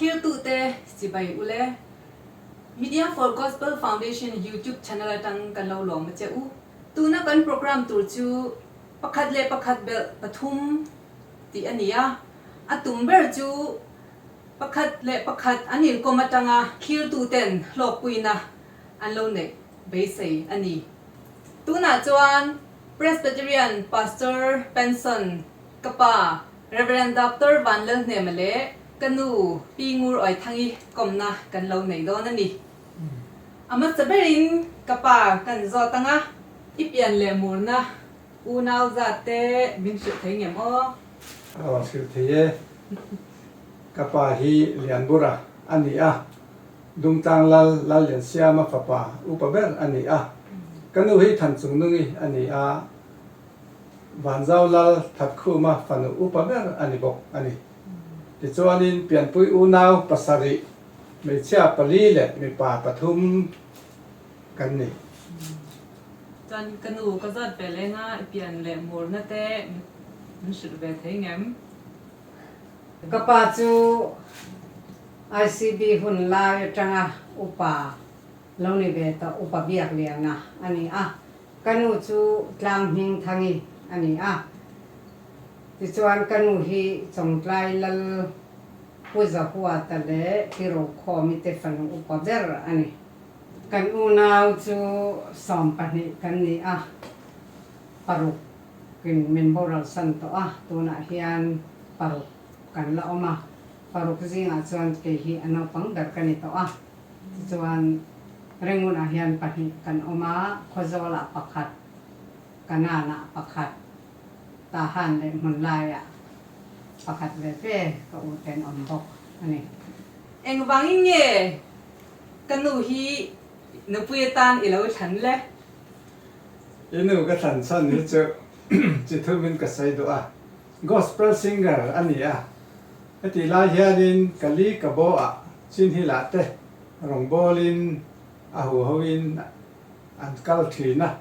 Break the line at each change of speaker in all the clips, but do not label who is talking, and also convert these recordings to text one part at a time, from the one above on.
Thiltute chibai u le. Media for Gospel Foundation YouTube channel atang kan lo lawm a che u. Tuna kan program tur chu pakhat leh pakhat belh pathum tih a ni a, a tum ber chu pakhat leh pakhat an inkawm atanga thiltuten hlawkpuina an lo neih beisei a ni. Tunah chuan. Presbyterian Pastor Penson, ka pa Rev. Doctor Vanlel Hnema leh ka nu Pi Ngur Awi Thangi kawmna kan lo nei dawn a ni. A hmasa ber in ka pa kan zawt ang a. I pian leh murna unau zat te min hrilh thei ngem aw? Aw hrilh thei e. Ka pa hi lian bura a ni a. Dungtlang Lal, Lalliansiama fapa upa ber a ni a. Ka nu hi Thanchungnungi a ni a, Vanzau Lal, Thatkhuma fanu upa ber a ni bawk a ni. Tichuanin Pianpui unau pasarih hmeichhia pali leh mipa pathum kan ni. Chuan ka nu ka zawt veleng a, i pian leh murna te min hrilh ve thei ngem. Ka pa chu ICB hun lai atanga upa lo ni ve tawh, upa biakliana a ni a, ka nu chu Tlanghming Thangi a ni a, tichuan ka nu hi Chawngtlai Lal, Pu Zahuata leh Pi Rokhua mite fanu upa ber a ni. Kan unau chu sawm pahnih kan ni a, paruk. Kin min boral san tawh a, tunah hian paruk kan la awm a, paruk zingah chuan kei hi a naupang ber ka ni tawh a, tichuan reng hunah hian pahnih kan awm a, Khawzawlah pakhat, Kananah pakhat, Tahan leh Hmunlaiah pakhat ve ve ka uten awm bawk a ni. Engvangin nge ka nu hi nupui atan i lo thlan le? I nu ka thlan chhan ni chu chi thumin ka sawi duh a, gospel singer a ni a. Heti lai hianin ka li ka bo a, Chinhil ah te rawngbawl in a huho in an kal thin a,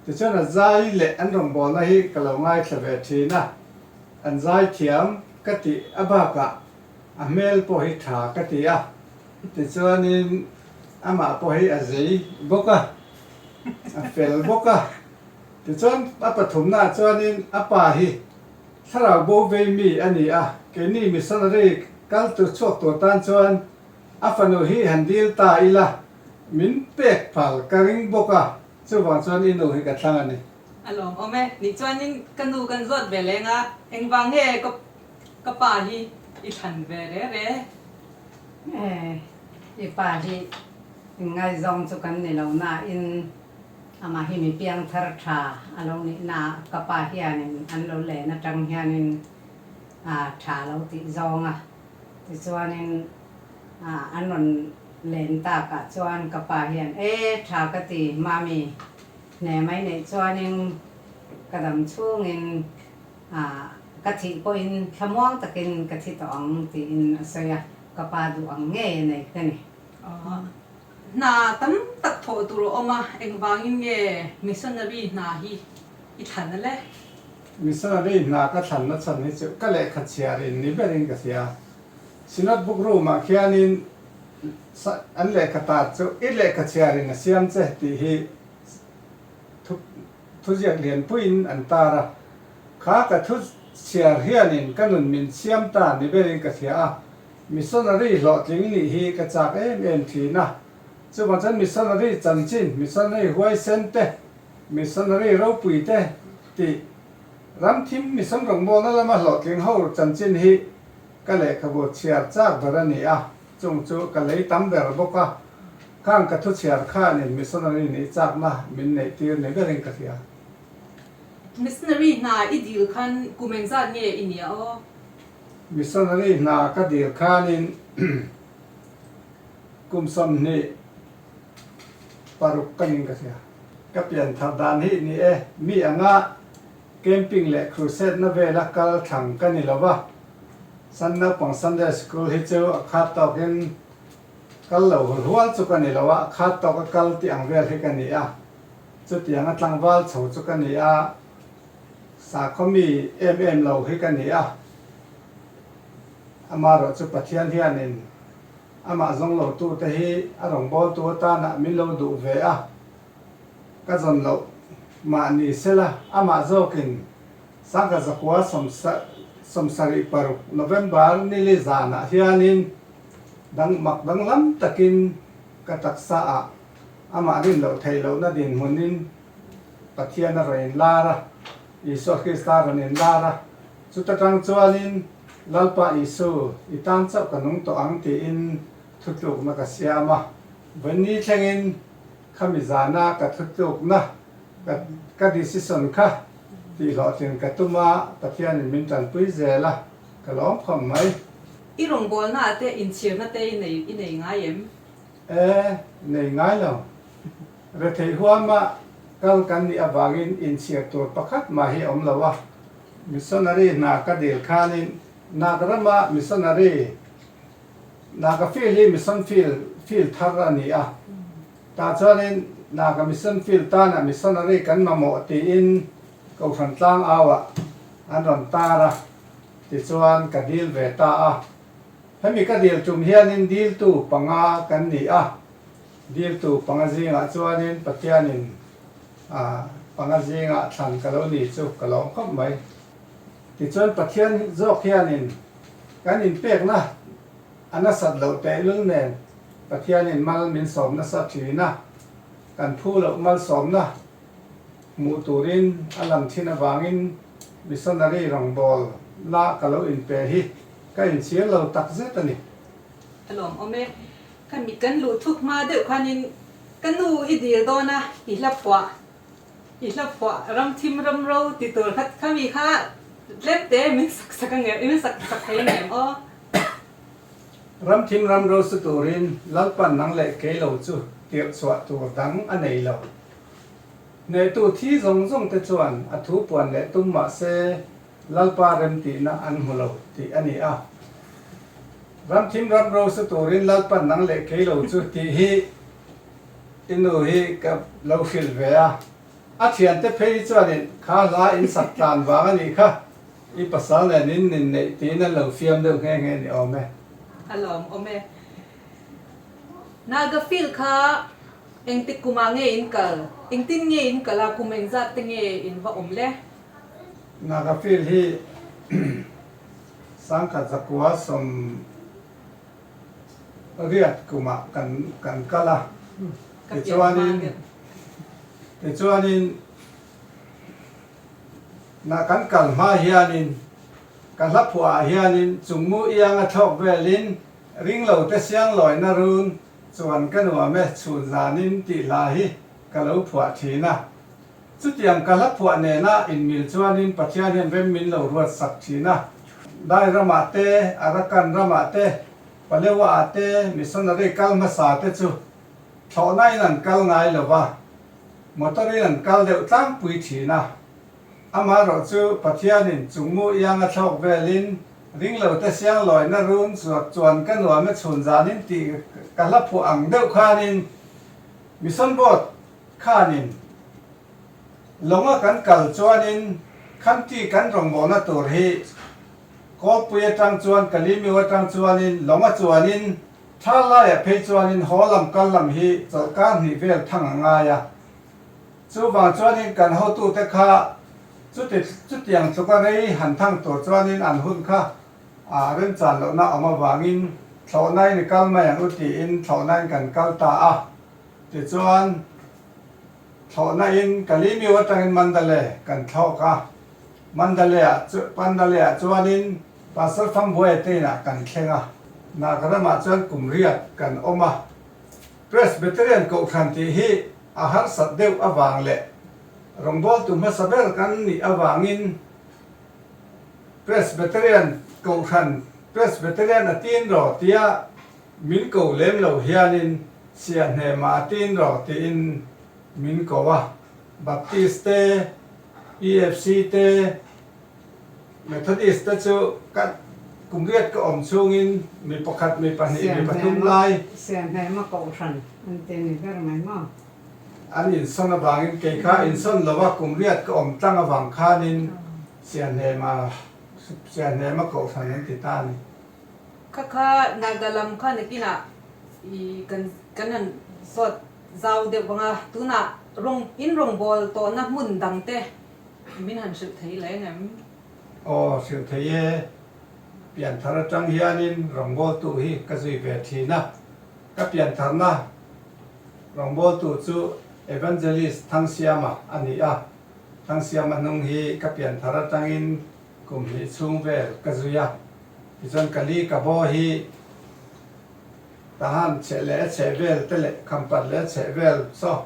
tichuan a zai leh an rawngbawlna hi ka lo ngaithla ve thin a, an zai thiam ka tih a bakah a hmel pawh hi tha ka ti a, tichuanin amah pawh hi a zei bawk a. a fel bawk a. Tichuan a pathumnaah chuanin a pa hi thlarau bo vei mi a ni a, keini missionary kal tur chhuak tur tan chuan a fanu hi han dil ta ila min pek phal ka ring bawk a, chuvang chuan i nu hi ka thlang a ni. A lawm awm e, nih chuanin ka nu kan zawt ve leng a, engvang nge ka ka pa hi i thlan ve rere? I pa hi. In ngaizawng chu kan ni lo nain amah hi mi piang thar tha a lo nih naah ka pa hianin an lo len atang hianin tha a lo tih zawng a. Tichuanin an rawn len takah chuan ka pa hian e tha ka ti Mami hne mai neih chuanin ka dam chungin ka thih pawhin thlamuang takin ka thi tawh ang tiin a sawi a, ka pa duh ang ngei a nei ka ni. Hna tam tak thawh tur a awm a, engvangin nge missionary hna hi i thlan a le? Missionary hna ka thlan nachhan hi chu ka lehkha chhiar in ni ber in ka hria a. Synod Book Room ah khian in an lehkha tat chu i lehkha chhiar in a siam che tih hi thuziak lianpui in an tar a. Kha ka thuchhiar hian in ka nun min siam ta ni ber in ka hria a. Missionary hlawhtling nih hi ka chak em em thin a, chuvang chuan missionary chanchin, missionary huaisen te, missionary ropui te tih ramthim mission rawngbawnna lama hlawhtling ho chanchin hi ka lehkhabu chhiar chak ber a ni a, chung chu ka lei tam ber bawk a, khang ka thu chhiar khanin missionary nih chakna min neih tir ni berin ka hria. Missionary hna i dil khan kumen zat nge i nia aw? Missionary hna ka dir khanin kum sawmhnih paruk ka ning ka hria. Ka pian thar dan hi ni e, mi anga camping leh crusade na vela kal thlang ka ni lo va. San naupang Sunday School hi chu a khat tawkin kal lo hul hual chu ka ni lo a, a khat tawka kal tih ang vel hi ka ni a. Chutianga tlangval chho chu ka ni a. Sakhaw mi em em lo hi ka ni a, amah erawh chu Pathian hianin amah zawng lo tu te hi a rawngbâwl tu atânah min lo duh ve a, ka zawn loh mah ni se la, amah zawkin Sangha Zakua sawmsarih paruk November nili zânah hianin dang mak danglam takin ka taksa ah amah rin loh theih lohna dinhmunin, Pathian a rawn in lar a, Isua Krista a rawn in lar a, chuta tang chuanin Lalpa Isu i tan chauh ka nung tawh ang tiin thutlukna ka siam a, vawini thlengin khami zana ka thutlukna ka ka decision kha tih hlawhtling ka tum a, Pathianin min tanpui zel a, ka lawmkhawm mai. I rawngbawlnaah te inchhirna te i nei i nei ngai em? E, nei ngai lo. Retheih huama kal kan nih avangin inchhiar tur pakhat mah hi a awm lo a. Missionary hna ka dil khanin Nagrama missionary, Naga field hi mission field field thar a ni a, tah chuanin Naga mission field tana missionary kan mamawh tiin Kohhran tlang auah an rawn tar a, tichuan ka dil ve ta a. Hemi ka dil tum hianin diltu panga kan ni a, diltu panga zingah chuanin Pathianin panga zinga thlan ka lo ni chu ka lawm khawp mai. Tichuan Pathian zawk hianin kan inpekna a nasat loh tehlul nen Pathianin mal min sawm nasa thin a, kan phu loh malsawmna, Hmuh turin a lang thin avangin missionary rawngbâwl la ka lo inpe hi ka inchiar lo takzet a ni. A lawmawm e, ka mit kan luhthuk hma deuh khanin ka nu i dir dawn a, i hla phuah, i hla phuah, ram thim ram ro ti tur kha khami kha tlêmte min sak sak angem, i min sak sak thei angem aw. Ram thim ram ro chu turin Lalpan nang leh kei lo chu tirhchhuah tur dang a nei lo. Neitu thi zawng zawng te chuan a thu puan leh tum mah se Lalpa remtihna an hmu lo tih a ni a. Ramthim ram ro sa turin Lalpa nang leh kei lo chu tih hi i nu hi ka lo hrilh ve a. A thian te phei hi chuanin kha hla in sak tlan vang a nih kha, i pasal nen in nin neih tiin an lo fiam deuh nghe nghe ni awm e. A lawm awm e. Naga field kha. Engtik kumah nge in kal? Engtin nge in kal a? Kum engzat te nge in va awm le? Naga field hi Sangkhat Zakua sawm riat kumah kan kal a, tichuanin na kan kal hma hianin ka hlaphuaah hianin chungmu ianga thlawk velin ringlote sianglawina run, Chuan ka nuam e, chhun zanin tih hla hi ka lo phuah thin a. Chutiang ka hla phuah nena inmil chuanin Pathian hian rem min lo ruat sak thin a. Dai ramah te, Arakan ramah te, Palewa ah te missionary kal hmasa te chu thlawhna in an kal ngai lova, motor in an kal deuh tlangpui thin a. Amaherawh chu Pathianin chungngu ianga thlawk velin ringlote sianglawiina run chuak chuan ka nuam e chhun zanin ti ka hla phuah ang deuh khanin Mission Board khanin lawnga kan kal chuanin khanti kan rawngbawlna tur hi Kawlpui atang chuan Kalimiu atang chuanin lawnga chuanin thlâr laiah phei chuanin haw lam kal lam hi chawlhkâr hnih vel thang a ngai a. Chuvang chuanin kan hotute kha chuti chutiang chuka rei han thang tur chuanin an hun kha remchan lohna awm avangin thlawhnain i kal mai ang u tiin thlawhnain kan kal ta a. Tichuan, thlawhnain Kalimiu atangin Mandalay kan thlawk a. Mandalay ah Mandalay ah chuanin Pastor Fambuaia tein ah kan thleng a. Nagrama chuan kum riat kan awm a. Presbyterian Kohhran tih hi a harsat deuh avang leh rawngbawltu hmasa ber kan nih avangin Presbyterian Kohhran, Presbyterian a tin raw tia min ko lem lo hianin Siah Hnema a tin raw tiin min ko a. Baptist te, EFC te, Methodist te chu ka kum riat ka awm chungin mi pakhat, mi pahnih, mi pathum lai. Siamhema kohhran an ti ni ber mai maw? An insawn avangin kei kha insawn lo a, kum riat ka awm tlang avang khanin Siamhema, Siamhema kohhran an ti ta a ni. Kha kha Naga lam kha nakinah kan rawn sawt zau deuh vang a, tunah in rawngbâwl tawhna hmun dangte Min han hrilh thei leng em? Aw, hrilh thei e. Pianthar atang hianin rawngbawltu hi ka zui ve thin a. Ka piantharna rawngbawltu chu Evangelist Thangsiama a ni a. Thangsiama hnung hi ka pianthar atangin kum hnih chhung vel ka zui a. Tichuan ka li ka bo hi tahan chheh leh a chheh vel te leh khampat leh a chheh vel saw.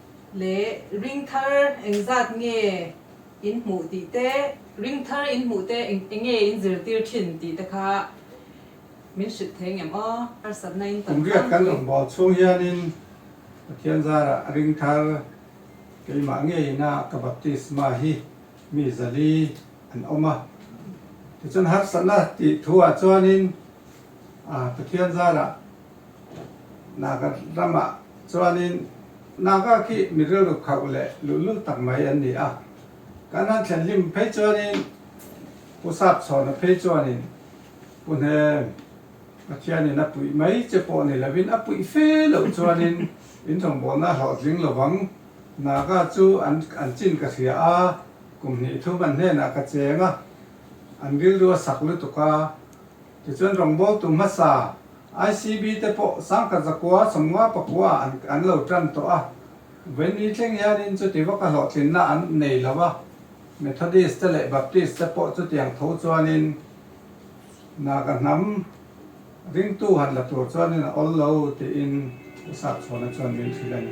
leh ring thar eng zat nge in hmuh tih te, ring thar in hmuh te eng enge in zirtir thin tih te kha min hrilh thei ngem aw, harsatna in tam tlangpui. Kum riat kan awm baw chhung hian in Pathian zar ah ring thar keimah nge in a ka baptisma hi mi zali an awm a, tichuan harsatna tih thu ah chuan in Pathian zar ah Naga ramah chuanin Naga khi mi rilru khauh leh luhlu tak mai an ni a, kan han thlen hlim phei chuanin Pu Sap Chhawna phei chuanin Pu Hnem, Pathianin a puih mai che pawh ni lovin a puih fe loh chuanin in hlawmbawlna a hlawhtling lovang, Naga chu an an chin ka hria a, kum hnih thum an hnenah ka cheng a, an rilrua sak lutuk a. Tichuan rawngbâwl tu hmasa ICB te pawh Sangkat Zakua Chawmnga Pakua an an lo ṭan tawh a, Venue thleng hianin chuti vaka hlawhtlinna an nei lo a, Methodist te leh Baptist te pawh chutiang tho chuanin naga hnam ringtu han la tur chuanin a awllo tiin a sakchhuahna chuan min hrilh a ni.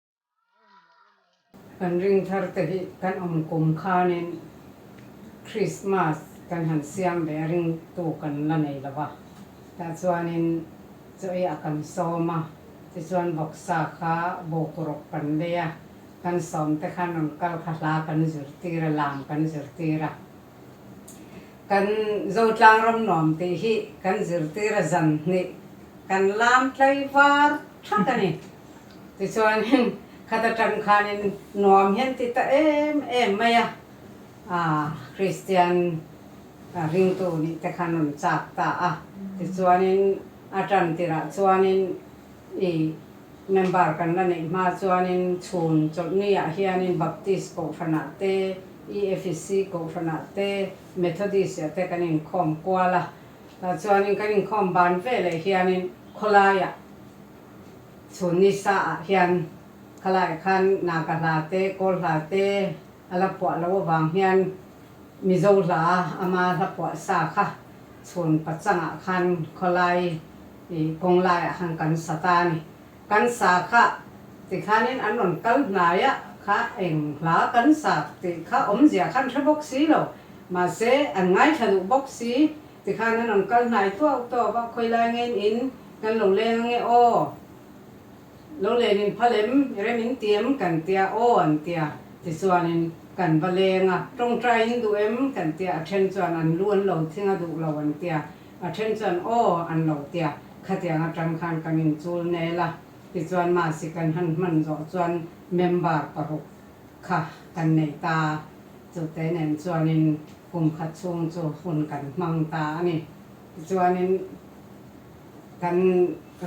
Kan ringthar te hi kan awm kum khanin Krismas kan han siam ve a ring tu kan la nei lo a, tah chuanin chaw i a kan sawm a, tichuan bawksa kha bokuruk kan bei a, kan sawm te khan rawn kal kha hla kan zir tir a, lam kan zir tir a. Kan Zotlang ram nuam tih hi kan zir tir a, zanhnih kan lam tlai var that a ni. Tichuanin khat atang khanin nuam hian ti ta em em mai a, Kristian ringtu nih te kha nun chak ta a. Tichuanin a tan tirah chuanin i member kan la neih hma chuanin chhun chawlhniah hianin Baptist Kohhranah te, EFC Kohhranah te, Methodist-ah te kan inkhawm kual a. Tah chuanin kan inkhawm ban veleh hianin khawlaiah Chhun ni sa-ah hian khalaih khan Naga hla te, Kawl hla te a la phuah loh avang hian Mizo hla ama hla phuah sa kha chhun pa changah khan khawlai kawng laiah khan kan sa ta a ni. Kan sa kha tikhanin an rawn kal hnai ah kha eng hla kan sa tih kha awmzia khan hre bawk si lo. Mahse an ngaithla duh bawk si Tikhan an rawn kal hnai tuau tuau va, khawilai ngen in kan lo leng ange aw, lo len in pha lem i rem in ti em kan tia aw an tia, tichuan in kan va leng a, tawngtai in duh em kan tia, a then chuan an lu an lo thing a duh lo an tia, a then chuan aw an lo tia, khatiang atang khan kan in chul nel a, tichuan mahse kan han hman zawh chuan member paruk kha kan neih ta, chute nen chuanin kum khat chhung chu hun kan hmang ta a ni. Tichuanin kan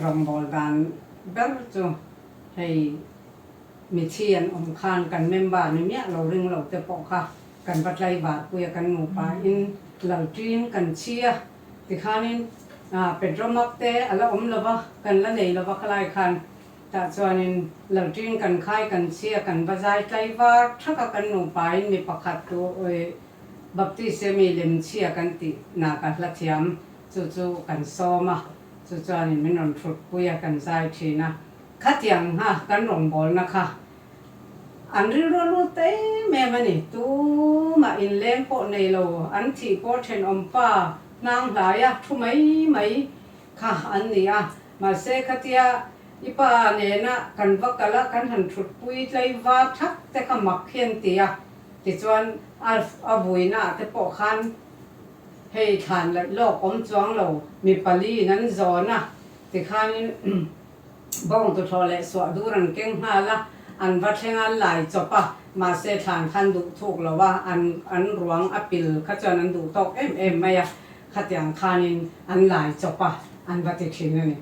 rawngbawl dan ber chu hei mithi an awm khan kan member ni miah lo ring lo te pawh kha kan va tlaivarpuia kan nupa in lalṭin kan chhia tikhanin Pedro Mak te a la awm lova kan la nei lova khalai khan Tah chuanin Lalṭin kan khai kan chhia kan va zai tlaivar ṭhaka kan nupain mi pakhat tu Baptistemi lem chhia kan tih na ka hla thiam chu chu kan sawm a, chu chuanin min rawn ṭhutpui a kan zai ṭhin a. Khatiang nga kan rawngbawlna kha an rilru lut em em a ni, tumah inleng pawh nei lo an thih pawh ṭhenawm pa hnang hlaia ṭhu mai mai kha an ni a, Mahse khatia i pa nena kan va kal a, kan han thutpui tlaiva thak te kha mak hian ti a, tichuan Alf a vuina ah te pawh khan hei thlan laih lawk awm chuang lo, mi paliin an zawn a ti khanin bawngtu thlawh leh suahdur an keng nghal a, an va thleng a, an lai chawp a, mahse thlan khan duh thuk lo a, an an ruang a pil kha chuan an duh tawk em em mai a. Khatiang khanin an lai chawp a, an va ti thin a ni.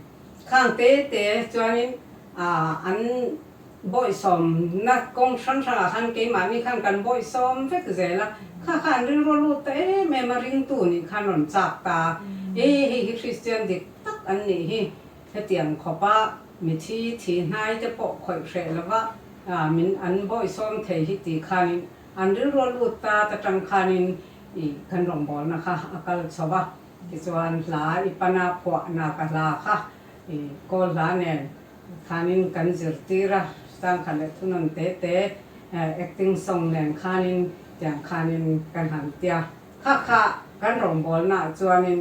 Khang te te chuanin aah an bawihsawmna kawng hrang hrangah khan keimahni khan kan bawihsawm vek zel a, kha kha an rilru lut ta em em a, ringtu nih khan rawn chak ta a, e hei hi Kristian dik tak an nih hi, hetiang khawpa mithi thi hnai te pawh khawih hreh lova min an bawihsawm thei hi tih khanin an rilru lut ta ta tang khanin i kan rawngbawlna kha a kal chho va, tichuan hla i pana phuahna ka hla kha i Kawl hla nen khanin kan zirtir a, changkhat leh thunawn te te acting song nen khanin tiang khanin kan han tia. Hakha kan rawngbawlnaah chuanin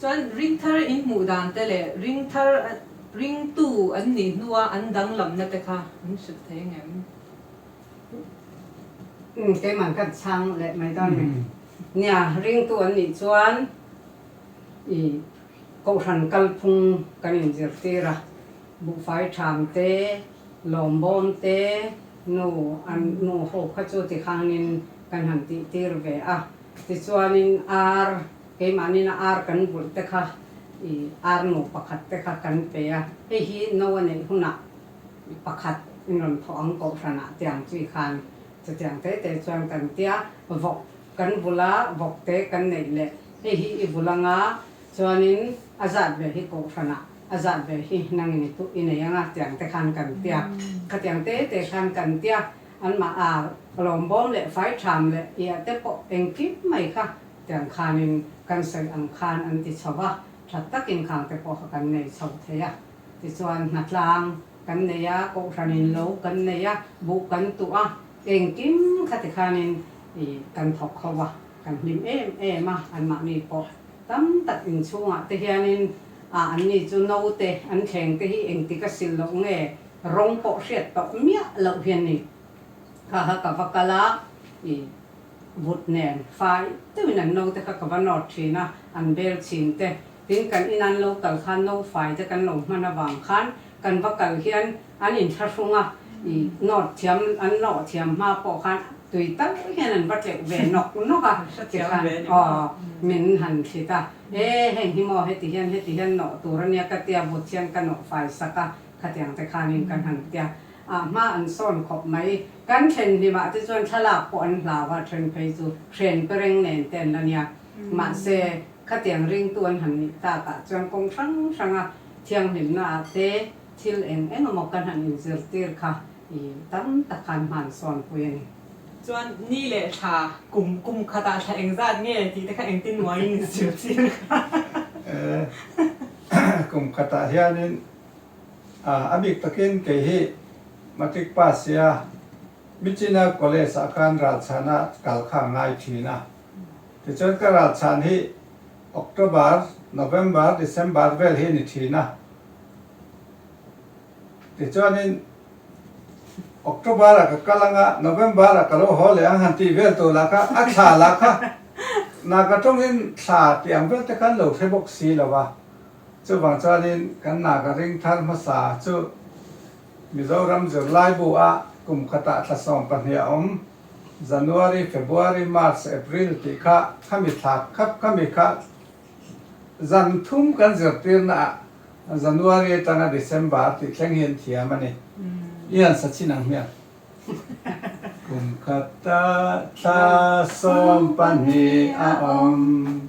Chuan ring thar in hmuh dan te leh ring thar ring tu an nih hnua an danglamna te kha min hrilh thei ngem. Keiman kan chhang leh mai dawn nen nia, ring tu an nih chuan i Kohhran kalphung kan in zir tir a, Buhfai Tham te, Lawmbawm te, nu an nu ho kha chu tikhangin kan han tih tir ve a, tichuanin ar. Keimahnina ar kan vulh te kha i ar nu pakhat te kha kan pe a, hei hi no a neih hunah i pakhat in rawn thawh ang kohhran ah tiang chi khan chutiang te te chuan kan tia, vawk kan vul a, vawk te kan neih leh hei hi i vul anga chuanin a zat ve hi kohhran ah a zat ve hi nang in i nei anga tiang te khan kan tia, khatiang te te khan kan tia, anmah a lawm bawm leh fai tham leh i a te pawh engkim mai kha Tiang khanin kan sawi ang khan an ti chho a, that tak inkhang te pawh kha kan nei chho thei a. Tichuan hna tlang kan nei a, kohhranin lo kan nei a, buh kan tuh a, engkim kha ti khanin i kan thawk kho a, kan hlim em em a, anmahni pawh tam tak inchhungah te hianin a an ni chu naute an thleng te hi engti ka sil loh nge, rawng pawh hriat tawh miah loh hian ni kha ka va kal a, i. But nen fai deuhin an no te kha ka va nawt thin a, an bel chhin te. Tin, kan inan lo kal khan no fai te kan lo hman avang khan kan va kal hian an inthlahrung a, i nawt thiam, an nawh thiam hma pawh khan tui tal hian an va tleuh ve nawk nawk a, ti khan aw min han thlit a, e heng hi maw heti hian heti hian nawh tur a nia ka tia but hian ka nawh fai sak a, khatiang te khanin kan han tia. a hma an sawn khawp mai. Kan thenhlimah te chuan thlalak pawh an hlau a, then phei chu hren pe reng nen te an la nia. Mahse, khatiang ringtu an han nih takah chuan kawng hrang hranga thianghlimna ah te thil eng eng emaw kan han inzirtir kha i tam tak kha an hman sawnpui a ni. Chuan ni leh thla kum kum khatah thla eng zat nge tih te kha engtin muaiin in zirtir kha. Kum khatah hianin. A bik takin kei hi matric pass sia Michina College ah kan ralchhan a kal kha ngai thin a. Tichuan ka ralchhan hi October, November, December vel hi a ni thin a. Tichuanin October ah ka kal ang a, November ah ka lo haw leh ang han tih vel tur lah kha a thla lah kha naka tawngin thla tih ang vel te khan lo hre bawk si lo va. Chuvang chuanin kan nak a ring thar hmasa chu Mizoram zirlaibu a kum khatah thlasawm pahnih a awm. January, February, March, April tih kha khami thlak khap khami kha zan thum kan zirtirna ah January atanga December tih thleng hi an thiam a ni. I han sa chin ang hmiang. Kum khatah thlasawm pahnih a awm.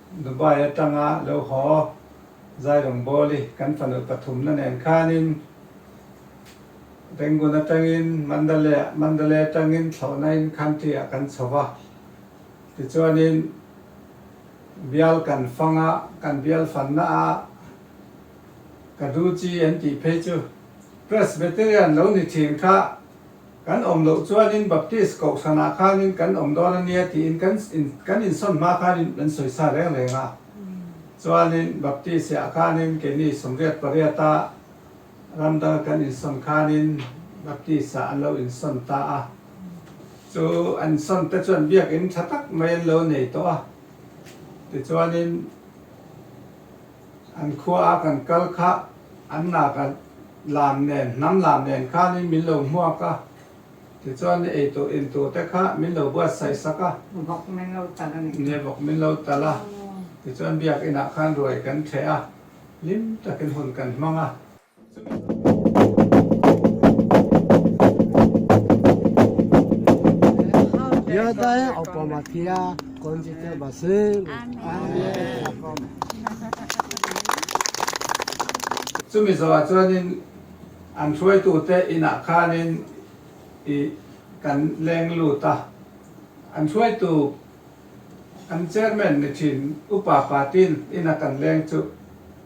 Dubai atanga lo haw Zairung Bawli kan fanu pathumna nen khanin Rangoon atangin Mandalay, Mandalay atangin Thlawhnain Country ah kan chho va. Tichuanin bial kan fang a, kan bial fanna a ka duh chi an tih phei chu Presbyterian lo ni thin kha Kan awm loh chuanin Baptist kohhranah khanin kan awm dawn a nia tiin kan in kan insawn hma khanin an sawi sa reng reng a. Chuanin Baptist-iah khanin keini sawmriat pariata ram danga kan insawn khanin Baptist-ah an lo insawn ta a. Chu an insawn te chuan biakin tha tak mai an lo nei tawh a. Tichuanin. An khua a kan kal kha an nak a lam nen, hnam lam nen khan in min lo hmuak a, tichuan i ei tur in tur te kha min lo buat saih sak a, ni bawk min lo tal a nih, ni bawk min lo tal a, tichuan Biak inah khan ruai kan chhe a, hlim takin hun kan hmang a. Chu Mizo ah chuanin an hruaitu te inah khanin i kan leng lut a, an hruaitu an chairman ni thin Upa Patil ina kan leng chu.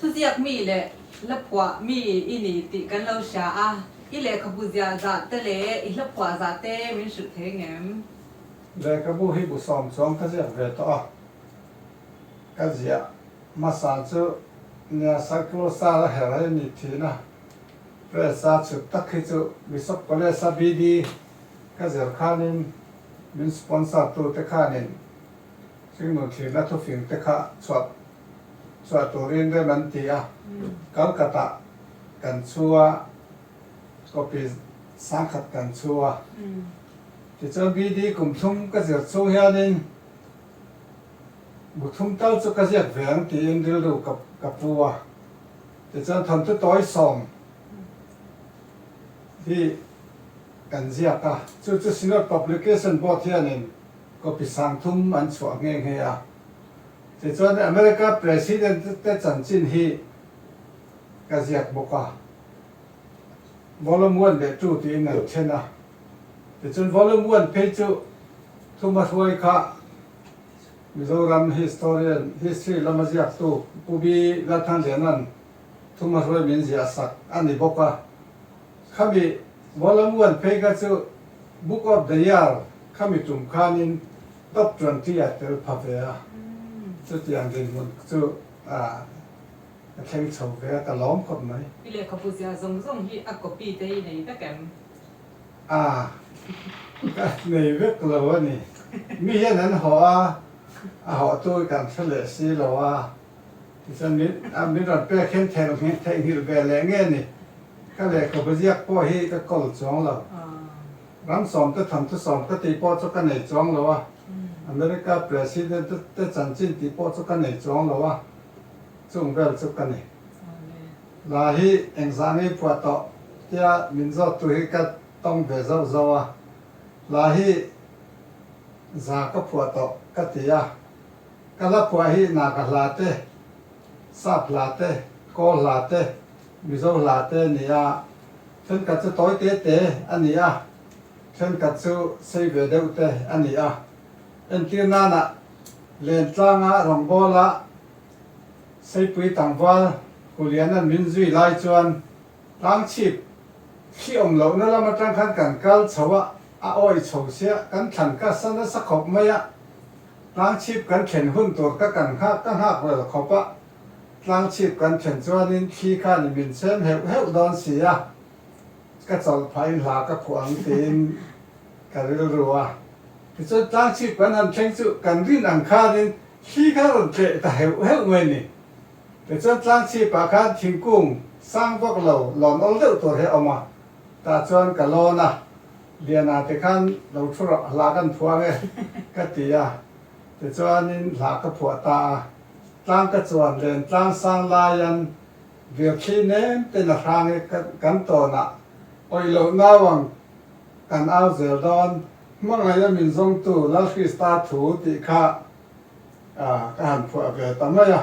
Thuziak mi leh Hlaphuah mi i ni tih kan lo hria a, i lehkhabu ziah zah te leh i hlaphuah zah te min hrilh thei ngem? Lehkhabu hi bu sawm chuang ka ziak ve tawh a, ka ziah hmasan chu nia Cyclosa la herh a i ni thin a, Press a chhut tak hi chu Bishop College a BD ka zir khan in min sponsor tu te khan in hringnun thlirna thufing te kha chhuah chhuah turin rem an ti a, Calcutta kan chhu a, copy sangkhat kan chhu a, tichuan BD kum thum ka zir chhung hianin bu thum tal chu ka ziak ve ang tiin rilru ka pu a, tichuan thawmtu tawi sawm hi kan ziak a, chu chu Synod Publication Board hianin copy sang thum an chhuah nghe nghe a, Tichuan America President te chanchin hi ka ziak bawk a, Volume one leh two tiin an then a, tichuan Volume one phei chu thuma hruai kha Mizoram historian, history lama ziaktu Pubi Lathantliana'n thuma hruai min ziah sak a ni bawk a. Khami Mualamuan phei kha chu Book of the Year khami tum khanin top twenty a tel pha ve a, chutiang dinhmun chu a thleng chho ve a, ka lawm khawp mai. I lehkhabu ziah zawng zawng hi a copy te i nei vek em? Ah, ka nei vek lo a ni. Mi hian an hawh a, a hawhtu kan hre leh si lo a. Tichuan min a min rawn pek khem thei lo ngheh theih nghilh ve leh nge ni? Ka lehkhabu ziak pawh hi ka kawl chuang lo. Ram sawmte thawmte sawm ka tih pawh chu ka nei chuang lo a, America President te chanchin tih pawh chu ka nei chuang lo a, chung vel chu ka ni. La hi engzah ngei phuah tawh tia min zawttu hi ka tawng ve zauh zauh a, la hi za ka phuah tawh ka ti a. Ka la khuah hi Naka hla te, Sap hla te, Kaw hla te, Mizo hla te a ni a. Thenkhat chu tawi te te a ni a, thenkhat chu sei ve deuh te a ni a. Entir nanah len tlanga Rawngbawl-a Seipui Tangval Huliana min zui lai chuan Tlangchhip hriawm lohna lam atang khan kan kal chho a, a awih chho sia, kan thlan ka sa nasa khawp mai a, Tlangchhip kan thlen hun tur ka kan nghak ka nghak rel khawp a, tlangchhip kan thlen chuanin khi khan i min chem heuh heuh dawn si a, ka chawlh phah in hla ka phuh ang tiin ka rilru a, tichuan tlangchhip kan han thleng chu kan rin ang khanin khi kha rawn tleh ta heuh heuh mai ni. Tichuan tlangchhip ah khan thingkung sang vak lo lawn awl deuh tur hi a awm a, tah chuan ka lawn a. Liana te khan lo thu rawh, hla kan phuang e ka ti a, tichuanin hla ka phuah ta a, tlang ka chuan len tlang sang laian Virthli nem ten a hrang e, kan tawnah awih loh nau ang kan au zel dawn. Hmangaih a min zawngtu Lalkhrista thu tih kha ka han phuah ve ta mai a.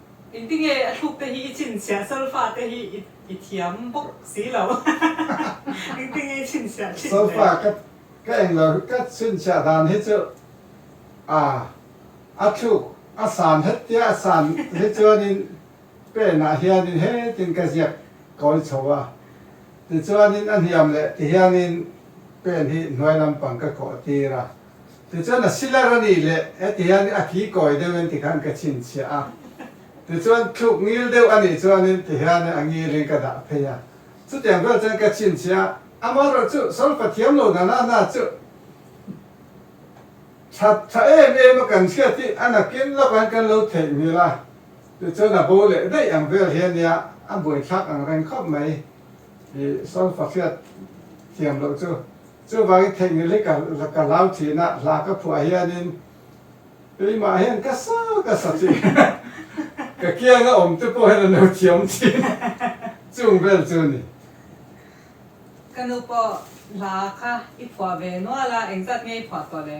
I ti nge a thluk te hi i chhin chhiah Solfa te hi i thiam bawk si lo i ti nge i chhin chhiah thin le. Solfa ka eng lo ka chhin chhiah dan hi chu ah a thluk a san het tia a san hi chuan in pen ah hian in he tin ka ziak kawi chho a ti chuan in a hniam leh ti hian in pen hi hnuai lampang ka kawh tir a. Tichuan a silar a nih leh heti hian a ki kawi deuh in ti khan ka chhinchhiah a, tichuan thluk ngil deuh a nih chuan in ti hian a ngil in ka dah phei a, chutiang vel chuan ka chhinchhiah a, amah erawh chu Saul pathiam lo nana hna chu tha tha em em a kan hria tih a nakin lawk an kan lo theih nghil a, tichuan a bo leh daih ang vel hian nia a buaithlak ang reng khawp mai, i Saul fahriat thiam loh chu. Chuvangin theihnghilhi ka ka hlau thin a, hla ka phuah hianin keimah hian ka sa ka sa chi ka kiang a awmte pawh hian a no thiam thin a, chung vel chu a ni. Ka nu pawh hla kha i phuah ve nual a, engzat nge i phuah tawh le?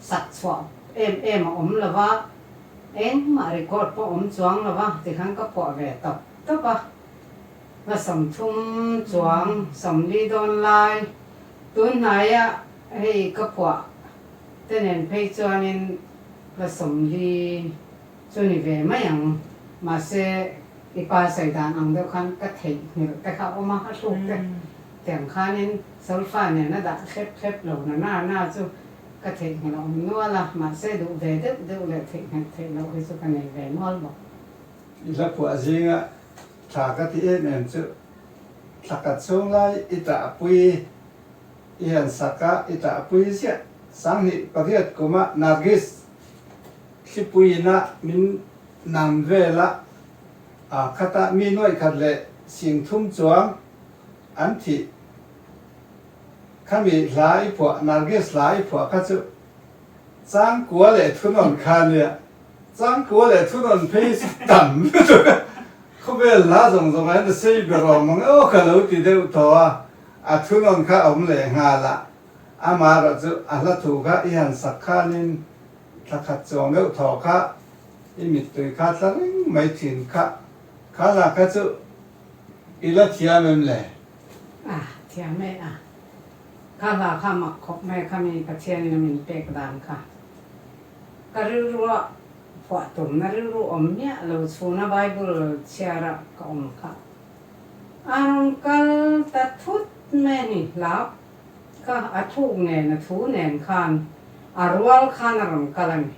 sak chhuah em em a awm lo va, engmah record pawh awm chuang lo va ti khan ka phuah ve tawp tawp a, va sawm thum chuang sawm li dawn lai, tunhnai ah hei ka phuah te nen phei chuan in va sawm li. Chu ni ve mai ang, mahse i pa saidan ang deuh khan ka theih hmel te kha awm a, a hluk te tiang khanin Solfa nen a dah thlep thlep lo na na na chu ka theih hmel a awm nual a, mahse duh ve deuh deuh leh theih hmel theih loh hi chu ka nei ve nual bawk. I la phuah zinga thla ka ti em em chu thla khat chhung lai i tahpui i han sak a, i tahpui ziah, sanghnih pariat kuma Nargis. Hlipui ina min nam vela khata mi nuaihkhat leh singthum chuang an thi. Khami hla i phuah, Narges hla i phuah kha chu changkua leh thunawn kha nia. Changkua leh thunawn phei hi chu tam lutuk a, khawvel hla zawng zawng ah hian the same ber awm ang e awk a lo ti deuh thaw a, a thunawn kha awm leh nghal a. Amarah chu a hla thu kha i han sak khanin thla khat chuang deuh thawh kha i mittui kha thla reng mai thin kha kha hla kha chu i la thiam em le? A thiam e a, kha hla kha mak khawp mai kha mi Pathianin a min pek dan kha ka rilrua phuah tumna rilru awm miah lo chhuna Bible chhiara ka awm kha a rawn kal ta thut mai a ni hlauh. Ka a thuk nen a thu nen khan a rual khan a rawn kal a ni.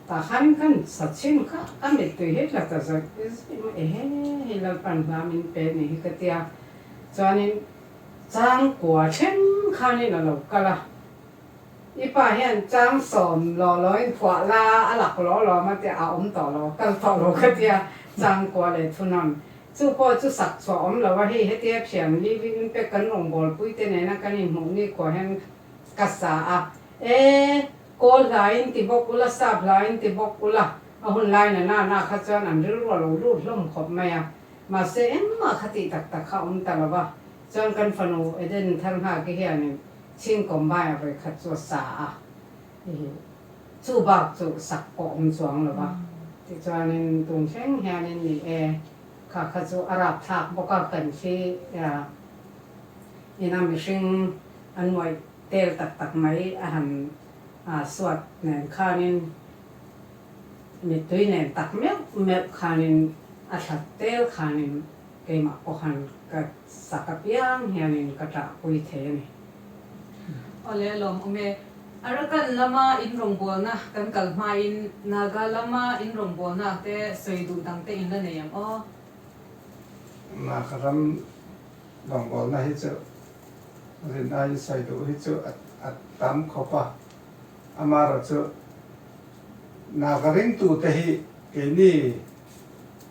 Tahkhan khan Sachin kha a mittui hi tla ta zawih zawih mai e he hei Lalpan hla min pe ni hi ka tia. Chuanin chang kua thleng khanin a lo kal a. I pa hian chang sawm law lawin phuah la a lak law law mah tia a awm tawh lo, kal tawh lo ka tia chang kua leh thunawn Chu pawh chu sak chhuah awm lo a, hei hetia thiam living impact kan rawn gawlpui te nena kan inhmuh ni khawh hian ka sa a, e kawl hlaiin ti bawk ula sap hlaiin ti bawk ula, a hun lai nana na kha chuan an rilruah lo lut hlawm khawp mai a, mahse engmah kha tih tak tak kha awm ta lo va, chuan kan fanu Eden Tharnghake hianin Chhing combine a vawikhat chu a sa a, I hi chu bak chu sak pawh awm chuang lo va, tichuanin tun hreng hianin ni e, kha kha chu a rapthlak bawk a, kan hri a, ina mihring an muai tel tak tak mai a han suat nen khanin mittui nen tak meuh meuh khanin a thlat tel khanin keimah pawh han ka saka piang hianin ka tah pui thei a ni. Aw lehlawm awm e. Arakan lama in rawngbawlna kan kal hmain Naga lama in rawngbawlnak te sawi duh dangte in la nei ang aw. Naga ram rawngbawlna hi chu zin aiin sawi duh hi chu a tam khawp a. Amarawh chu Naga ringtute hi keini.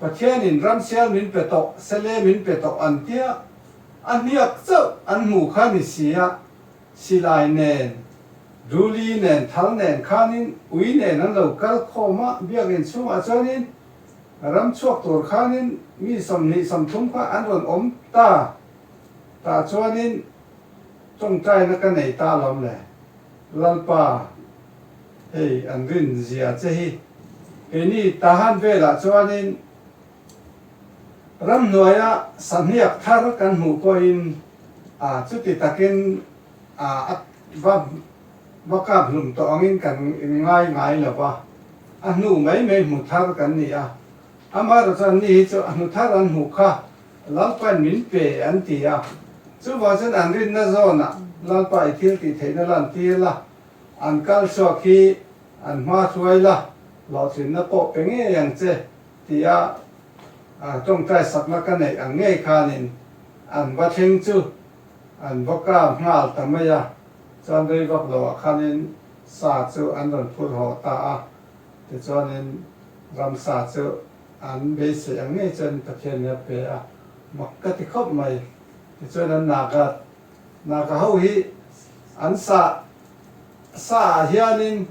Pathianin ramsial min pe tawh, sele min pe tawh an tia, a hniak chauh an hmuh kha ni sia, silai nen, duli nen, thal nen khanin ui nen an lo kal khawm a, biakinn chhungah chuanin ram chhuak tur khanin mi sawmhnih sawmthum kha an rawn awm ta tah chuanin tawngtaina ka nei ta lawm le Lalpa. Hei an rin zia che hi keini tahan velah chuanin ramhnuaia sahniak thar kan hmuh pawhin chuti takin va kaphlum tawh angin kan inngai ngai lo va, a hnu mai mai hmu thar kan ni a. Amaherawh chuan ni hi chu a hnu thar an hmuh kha Lalpain min pe an ti a. Chuvang chuan an rinna zawnah Lalpa i thil tih theihna la an ti la, an kal chhuak hi an hma hluai la, hlawhtlinna pawh pe ngei ang che tia tawngtai sakna ka neih ang ngei khanin an va thleng chu an va kap nghal ta mai a, chuan Reivaklo ah khanin sa chu an rawn phur haw ta a, tichuanin ram sa chu an beisei ang ngei chuan Pathian hi a pe a, mak ka ti khawp mai, tichuan an Naga. Hna ka ho hi an sa sa ah hianin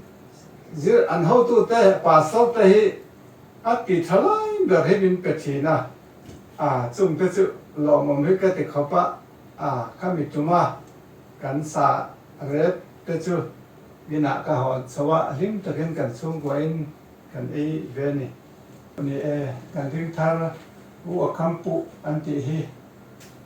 zir an hotu te pastor te hi a ti thalai ber hi min pe thin a, ah chung te chu lawmawm hi ka ti khawp a, ah ka mi tum a, kan sa ret te chu min ah ka hawn chho a, hlim takin kan chhungkua in kan ei ve a ni. Ni e, kan ring thar u a kam puh an tih hi.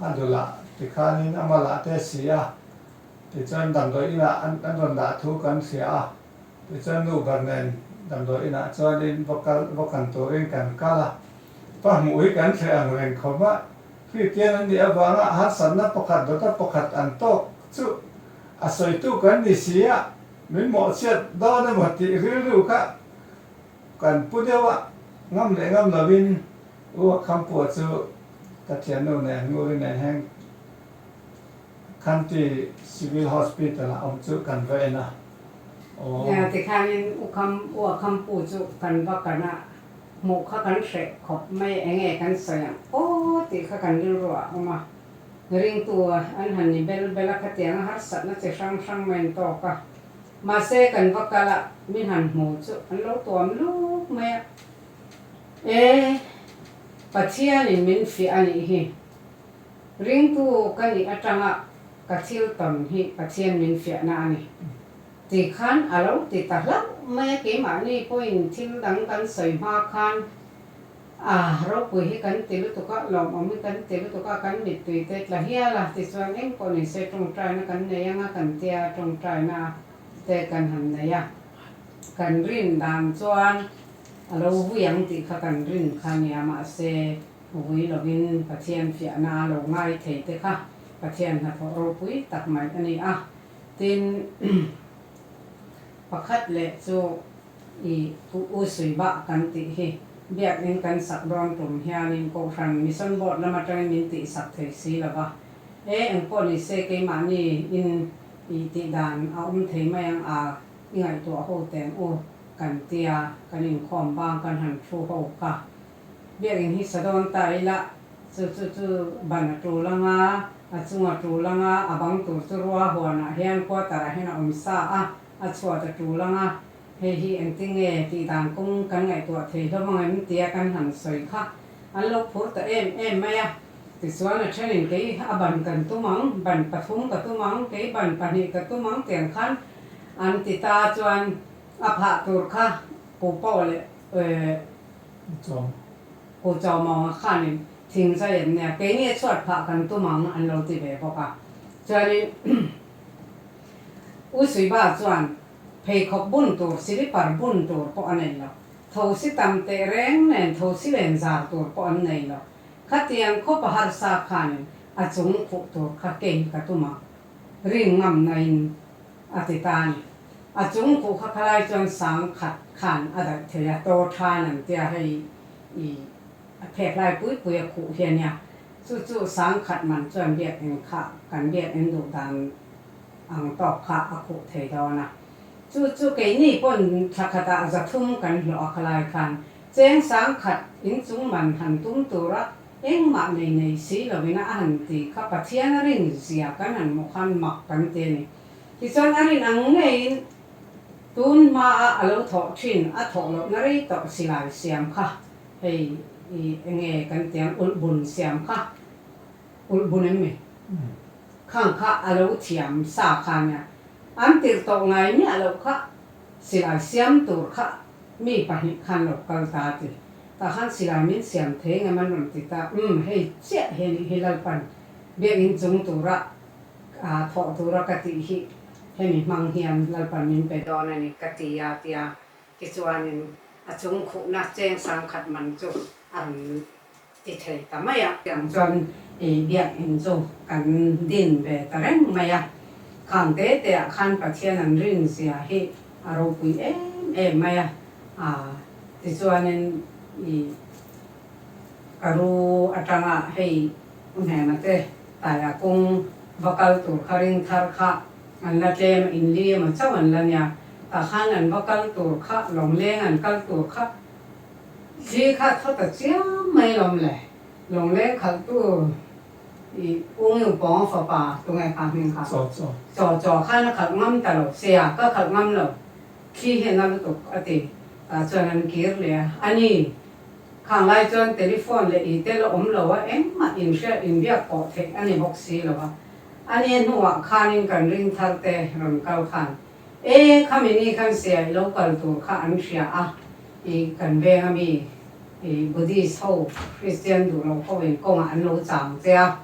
A dul a, tikhanin a mal ah te si a, tichuan damdawi in ah an rawn dah thu kan hria a, tichuan nu ber nen damdawi in ah chuan in va kal, va kan tur in kan kal a, pa hmuh hi kan hreh ang reng khaw mah, Khristian an nih avang ah harsat na pakhat dawta pakhat an tawk chuh a sawi tu kan ni si a, min mawh chhiat dawn emaw tih rilru kha kan pu deuh a, ngam leh ngam lo in. U Khampua chu Kathiannu nen Nguri nen heng Khanti Civil Hospital ah awm chu kan va en a. Aww. Tikhanin U Kham, U a Khampu chu kan va kan a, hmuh kha kan hreh khawp mai, eng nge kan sawi ang aw tih kha kan rilru a awm a. Ringtu an han ni bel bel a, khatianga harsatna chi hrang hrang mai an tawk a. Mahse kan va kal a, mi han hmu chu an lo tuam luk mai a. E, Pathianin min fiah a nih hi. Ringpu ka nih atanga ka thil tawn hi Pathian min fiahna a ni. Ti khan a lo ti ta hlauh mai a, keimahni pawhin thil dang kan sawi hma khan a, ropui hi kan ti lutuk a, lawmawm hi kan ti lutuk a, kan mittui te tla hial a, tichuan engpawh nen se tawngtaina kan nei ang a kan tia, tawngtaina te kan han nei a. Kan rin dan chuan. A lo vui ang tih kha kan rin kha nia mahse vui lovin Pathian fiahna a lo ngai thei te kha Pathian hnathawh ropui tak mai a ni a. Tin, pakhat leh chu i U Sui Bah kan tih hi biakinn kan sak dawn tum hianin Kohhran Mission Board lama tangin min tihsak thei si lo va, e engpawh ni se keimahni in i tih dan a awm thei mai ang a. I ngaihtuah a ho teng u, kan ti a, kan inkhawm bang kan han thu ho kha. Biakinn hi sa dawn ta ila, chu chu chu ban a tul anga, a chung a tul anga, a bang tur chu rua huanah hian quarter ah hian a awm sa a, a chhuat a tul anga, hei hi engti nge tih dan kum kan ngaihtuah thei hlawmang em? tia kan han sawi kha. An lo phur ta em em mai a, tichuan a thenin kei a ban kan tum ang, ban pathum ka tum ang, kei ban pahnih ka tum ang tiang khan An ti ta chuan a phah tur kha Pu Paw leh Pu Chawmaw khanin thing zai an nia, keini a chhuat phah kan tum ang an lo ti ve bawk a. Chuanin U Suiba chuan pheikhawk bun tur, silipar bun tur pawh a nei lo, thosi tam teh reng nen thosi len zar tur pawh an nei lo. Khatiang khawpa harsa khanin a chung fuh tur kha kei ka tum ang. Rin ngam na in a ti ta a ni. A chung kuh kha khalai chuan sang khat khan a daih thei a, taw than an ti a, hei i a phekhlai pui pui a khuh hi a nia. Chu chu sang khat man chuan biakeng kha kan biakeng duh dan ang tawp kha a khuh thei dawn a. Chu chu keini pawn thla khata zathum kan hlawh a khalai khan cheng sang khat in chungman han tum tura, Engmah nei nei si lovin a han ti kha Pathian a rin zia kan han hmuh khan mak kan ti a ni. Tichuan a rin ang ngeiin tun hmaa a lo thawh thin a thawh lohna rei tawh si lai siam kha hei enge kan ti ang ulh bun siam kha ulh bun em mai khang kha a lo thiam sa khan nia an tirh tawh ngai miah loh kha. Silai siam tur kha mi pahnih khan lo kal ta a ti. Tah khan silai min siam thei ngam an rawn ti ta. Umm hei chiah hi a nih hi Lalpan biak in chung tura ah thawh tura ka tih hi hemi hmang hian Lalpan min pe dawn a ni ka ti a ti a. Tichuanin a chung khuhna cheng sangkhat man chu a rawn. ti theih ta mai a. Tiang chuan i biakinn chu kan din ve ta reng mai a, khang te teah khan Pathian an rinzia hi a ropui em em mai a, ah tichuanin i ka ru atanga hei hmema te tai a kung va kal tur kha ring thar kha an la tlem a, inli emaw chauh an la nia, tah khan an va kal tur kha, lawngleng an kal tur kha, Thli khat fata chiang mai lawm le Lawnglen khalhtu i Ung Yung Pawnga fapa Tunge Kha hming kha Chaw Chaw khan a khalh ngam ta lo se a, ka khalh ngam lo, thli hi a na lutuk a ti. Tah chuan an kir leh a, a ni, khang lai chuan telephone leh i tel a awm lo a, engmah inhriat inbiak pawh theih a ni bawk si lo a, a nia hnuah khanin kan ring thar te rawn kal khan. E, khami ni khan sia i lo kal tur kha an hria a, i kan venga mi i Buddhist ho, Kristian duhlo ho in kawngah an lo chang che a,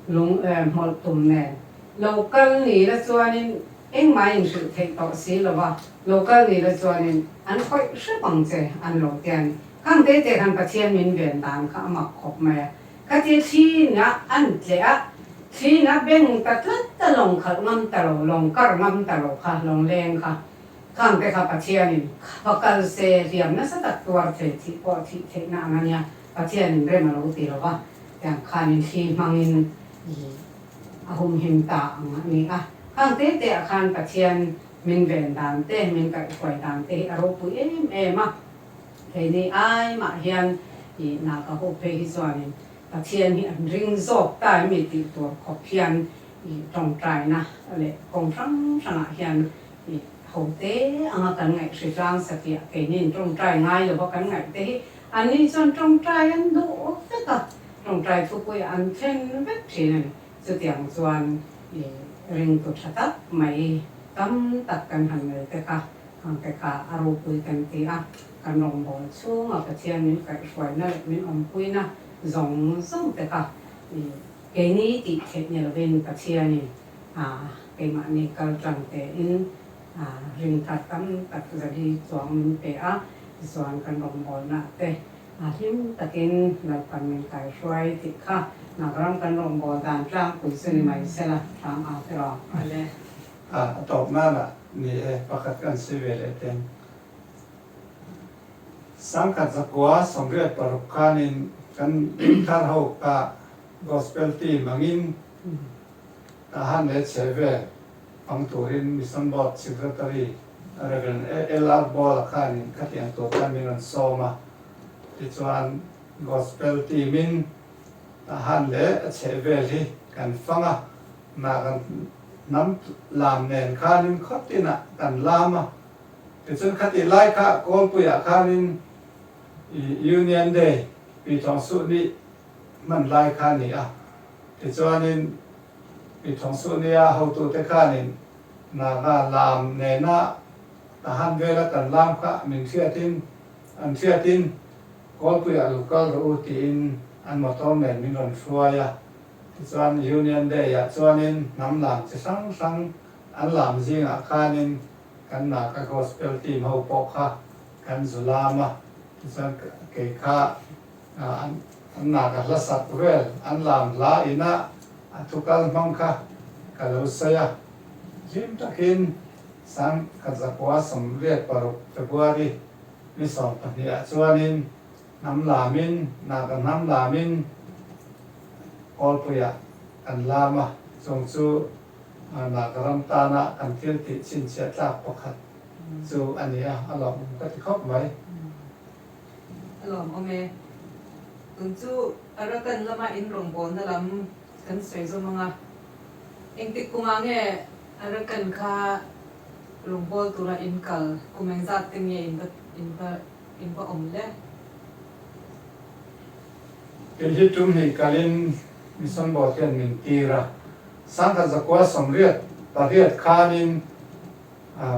lung eh hmawlh tum nen. Lo kal ni la chuanin engmah in hrilh theih tawh si lo va, lo kal ni la chuanin an khawih hrep ang che an lo tia ni. Khangte te khan Pathian min ven dan kha a mak khawp mai a. Ka ti thin a, an tleh a, thin a beng ta tlat ta lawng khalh ngam ta lo, lawng kar ngam ta lo kha, lawng leng kha, khang te kha Pathianin va kal se, hliam nasa tak tuar thei thih pawh thih theihna ang a nia, Pathianin rem a lo ti lo va, tiang khanin thli hmangin ih a humhim ta ang a ni a, khang te te ah khan Pathian min ven dan te, min kaihfuai dan te hi a ropui em em a. Keini ai mah hian i na ka hawk phei hi chuanin Pathian hi an ring zawk ta em i tih tur khawp hian i tawngtaina leh kawng hrang hrangah hian i hote anga kan ngaih hri tlang satia keinin tawngtai ngai lova kan ngaih te hi an ni chuan tawngtai an duh vek a, tawngtai thupuia an thlen vek thin a ni. Chutiang chuan i ringtu tha tak mai tam tak kan han nei te kha ang te kha a ropui kan ti a, kan rawngbawl chhunga Pathian min kaihhruaina leh min awmpuina zawng zawng te kha i keini tih theih ni lovin Pathianin a keimahni kal tang tein a ring tlat tam tak zali chuang min pe a tichuan kan rawngbawlnate A hlim takin nawr kan min kaihruai tih kha Nagram kan rawn bawl dan tlang pui chu ni mai se la, hrang a ti rawh. Ani a tawp nan a ni e, pakhat kan si ve leh teng. Sangkhat zakua sawmriat paruk khanin kan thar ho kha Gospel team angin a han leh chhe ve. Hmang turin Mission Board Secretary Rev. LR Ball-a khanin khatiang tur khan min rawn sawm a, tichuan Gospel team in a han leh a chheh vel hi kan fang a, hna kan hnam lam nen khanin khawtinah kan lam a, tichuan khatih lai kha Kawlpuiah khanin Union Day Pi Thawng Suh nih hman lai kha a ni a, tichuanin. I Thongsuhnia hotute khanin Naga lam nena a han vel a kan lam kha min hriatin an hriatin Kawlpuia lu kal rawh u tiin an motor nen min rawn hruai a, tichuan Union Day ah chuanin hnam lam chi hrang hrang an lam zingah khanin kan Naga Gospel team ho pawh kha kan zu lam a, tichuan kei kha. An na ka hlasak vel an lam hla in ah a thu kal hmang kha ka lo sawi a, hlim tak in Sang khat zakua sawm riat paruk February ni sawm pahnih ah chuan in hnam lam in na ka hnam lam in Kawlpui ah kan lam a, chung chu na ka ram tan ah kan thil tih chhinchhiah tlak pakhat chu a ni a, a lawmawm ka ti khawp mai. a lawm awm e. Tun chu Arakan lama in rawngbawlna lam kan sawi zawm ang a, engtik kumah nge Arakan kha rawngbâwl tura inkal kum engzat te nge in va in va in va awm le? Kei hi tum hnih kalin Misonbawl hian min tir a, sangkhat zakua sawmriat pariat khanin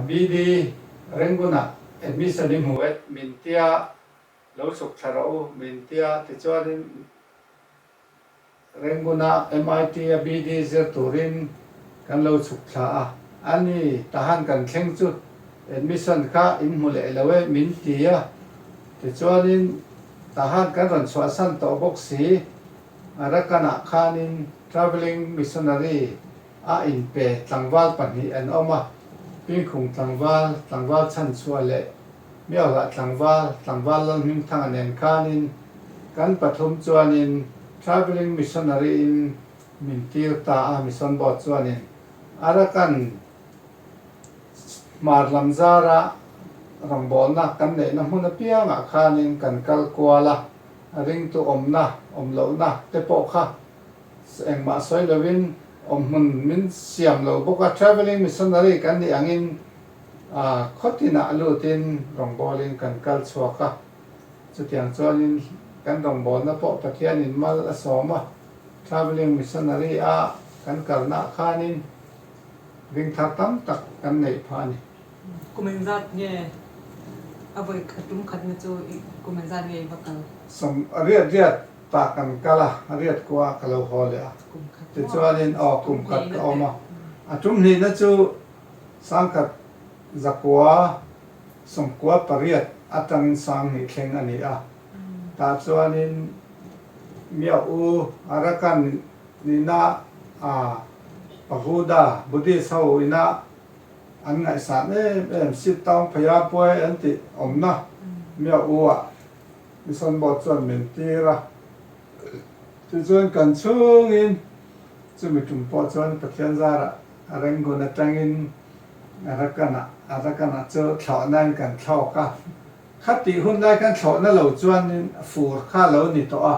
BD, Rangoon-a admission i hmu et, min tia lo chhuk thla rawh u, min tia. Tichuanin Rangoon-a MIT a BD zir turin kan lo chhuk thla a. A ni, tahan kan thleng chu admission kha in hmu leh lo e, min ti a. Tichuanin tahan kan rawn chhuahsan tawh bawk si. Arakan-ah khanin travelling missionary. A inpe tlangval pahnih an awm a, Pingkhung tlangval, tlangval chhanchhuah leh Miaohlah tlangval, tlangval lalhming thanga nen khanin kan pathum chuanin Travelling Missionary in min tir ta a, Mission Board chuanin a rakan hmar lam zara rawngbawlna kan neihna hmun apiangah khanin kan kal kual a, a ringtu awmna, awmlohna te pawh kha. Engmah sawi lovin awm hmun min siam lo bawk a, travelling missionary kan nih angin khawtinah lutin rawngbawlin kan kal chhuak a, chutiang chuanin kan rawngbawlna pawh Pathian in mal a sawm a, travelling missionary a kan kalnah khanin ring thar tam tak kan neih phah a ni. Kum in zat nge a vawi a tum khatna chu i kum in zat nge i va kal? Sawm riat riat Tah kan kal a, riat kua ka lo haw leh a. Tichuanin, Aw, kum khat ka awm a. A tumhlihna chu sang khat zakua sawmkua pariat atangin sang hnih thleng a ni a. Tah chuanin, Miah u, Arakan nihna a pagoda, Buddhist ho ina an ngaihsan em em, Sitaung Phayabhuai an tih awmna miah u-ah Isanbawt chuan min tir a, tichuan kan chhungin chumi tum pawh chuan Pathian zara a Rangoon atangin a Rakan ah, a Rakan ah chu thlawhnain kan thlawk a, khati hun lai khan thlawh na lo chuanin fur kha a lo ni tawh a,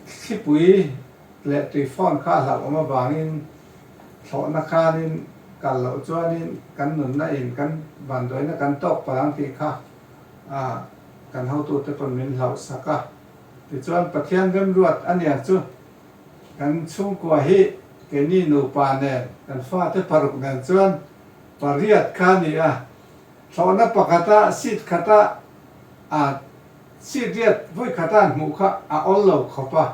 thlipui leh tui fawn kha a hlauh awm avangin thlawhna khanin kal loh chuanin kan nunna in kan bandawi na kan tawk palang tih kha. a kan hotu te pawn min hlauh sak a, tichuan Pathian remruat a nia chu kan chhungkua hi keini nupa nen, kan fate paruk nen chuan pariat kha ni a, thlawhna pakhata seat khata a seat riat vui khata an hmuh kha a awl lo khawp a,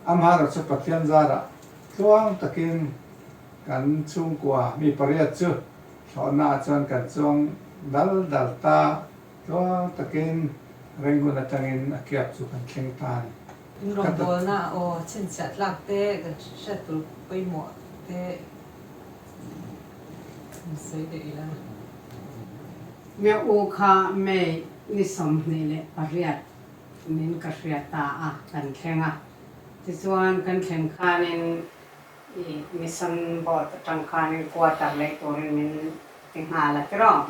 amahana chu Pathian zarah tluang takin kan chhungkua mi pariat chu Thlawhnaah chuan kan chuang dal dal ta, tuar takin reng hun atangin a kiap chu kan thleng ta a ni. In rawng dawlna aw, chhinchhiah tlak te, kan hriat tur pawimawh te kan sawi daih ila. Nya u kha May ni sawmhnih leh pariat min ka hriat ta a, kan thleng a, tichuan kan thleng khanin. I mission boat atang khanin quarter lei turin min ti nghal a tiraw?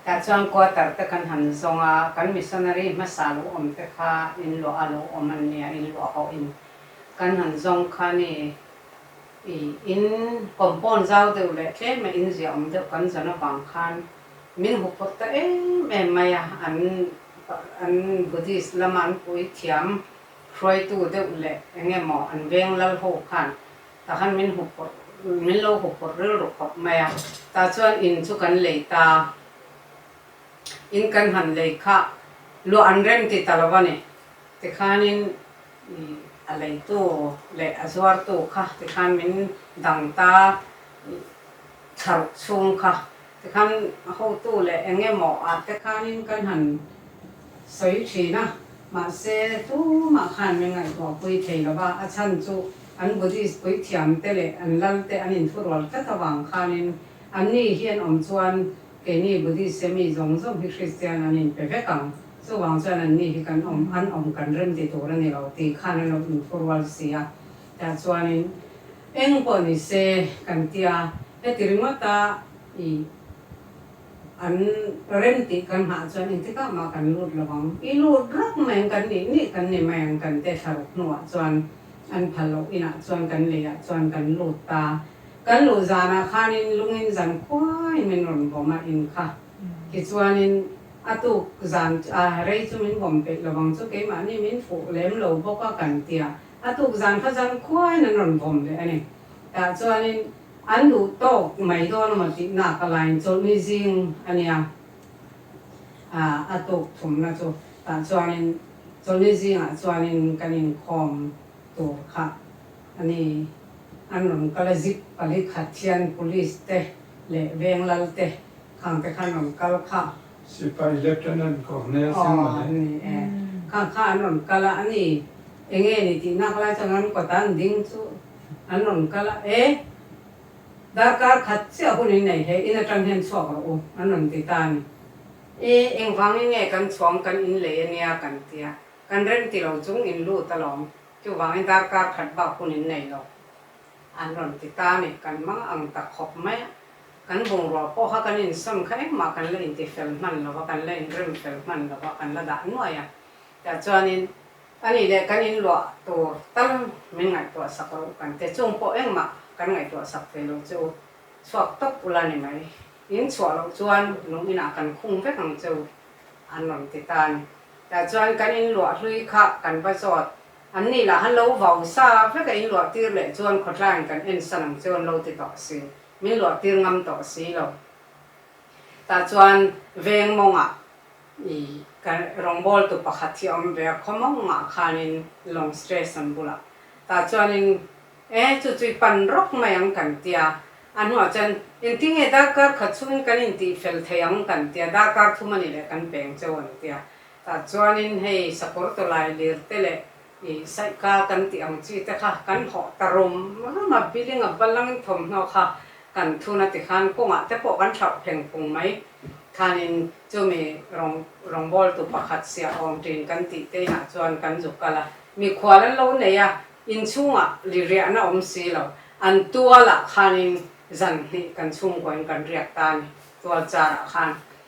Tah chuan quarter te kan han zawng a, kan missionary hmasa lo awm te kha in luah a lo awm an nia, in luah ho in kan han zawng khan i i in compound zau deuh leh tlema in zia awm deuh kan zawn avang khan min hupawt ta em em mai a, an an Buddhist lama an puithiam Hruaitu deuh leh eng emaw an veng lal ho khan tah khan min hmu phawrh, min lo hmu phawrh rilru khawp mai a. Tah chuan in chu kan lei ta, in kan han lei kha luah an rem ti ta lo a ni. Tikhanin ih a leitu leh a zuartu kha tikhan min dang ta, ih thla ruk chhung kha Tikhan a hotu leh eng emaw ah te khanin kan han sawi thin a, mahse tumah khan min ngaihtuahpui thei lo va, a chhan chu an Buddhist puithiam te leh an lal te an inthurual tlat avang khanin an ni hian awm chuan keini Buddhist se mi zawng zawng hi Kristian an inpe vek ang, chuvang chuan an ni hi kan awm an awm kan rem ti tur a ni lo tih khan an lo inthurual si a, tah chuanin eng pawh ni se kan tia Heti ringawta ih an rem tih kan nghah chuan engtikah mah kan lut lo ang. I lut rawk mai ang kan nih nih kan ni mai ang kan teh thla ruk hnuah chuan an phal loh inah chuan kan leiah chuan kan lut ta. Kan luh zanah khanin lungin zan khuai min rawn bawm a in kha. Tichuanin a tuk zan a rei chu min bawm peih lo ang chu keimahni min fuh lem lo bawk a kan tia. A tuk zan kha zangkhuain an rawn vawm leh a ni. Tah chuanin an duh tawk mai dawn emaw tih naka lain chawlhni zing a nia. A tuk thumna chu tah chuanin chawlhni zingah chuanin kan inkhawm tur kha a ni. An rawn kal a zip pali khat hian police te leh veng lalte khangte kha an rawn kal kha. Sipai Lieutenant Cornel Sengmawleh. Aww ni e, khang kha an rawn kal a ani, enge ni tih nak lai chuan an kawtah an ding chu an rawn kal a, e darkar khat chiah hun in nei hle in atang hian chhuak rawh u an rawn ti ta ani, e eng vangin nge kan chhuam kan in lei ania kan ti a, kan remti lo chung in lut alawm, chuvangin darkar khat bak hun in nei lo an rawn ti ta ani, kan hmang a ang tak khawp mai a. Kan bungrua pawh kha kan insawn kha engmah kan la inti fel hman lo va, kan la inrem fel hman lo va, kan la dah nuai a. Tah chuanin, a nih leh kan inluah tur tal min ngaihtuah sak lo, kan te chung pawh engmah kan ngaihtuah sak ve lo che u, chhuak tawp ula ni mai. In chhuah loh chuan lung inah kan khung vek ang che u, an rawn ti ta a ni. Tah chuan kan inluah hlui kha kan va zawt, an nih lah han lo vau sa vek a, inluah tir leh chuan khawtlain kan en san ang che u an lo ti tawh si. Min luah tir ngam tawh a si lo. Tah chuan veng mawnga i ka rawngbâwl tu pakhat hi a awm ve a, khaw mawngah khânin lawng station bulah. Tah chuanin E, chu chu i pan rawk mai ang kan ti a, a hnuah chuan Engtin nge darkar khat chhungin kan intih fel thei ang kan ti a, darkar thum a nih leh kan peng che aw an ti a. Tah chuanin hei sakawr tawlai lirte leh I saika kan tih ang chi te kha kan hlawh ta rum rum a, biling a bal angin thawmhnaw kha kan thun ati khan kawngah te pawh kan hrauh thleng phung mai thanin chumi rawng rawngbawltu pakhat Siah Awngtin kan tih te inah chuan kan zuk kal a, mikhual an lo nei a, inchhungah liriahna awm si lo, an tualah khanin zanhnih kan chhungkawiin kan riak ta a ni, tualchar ah khan.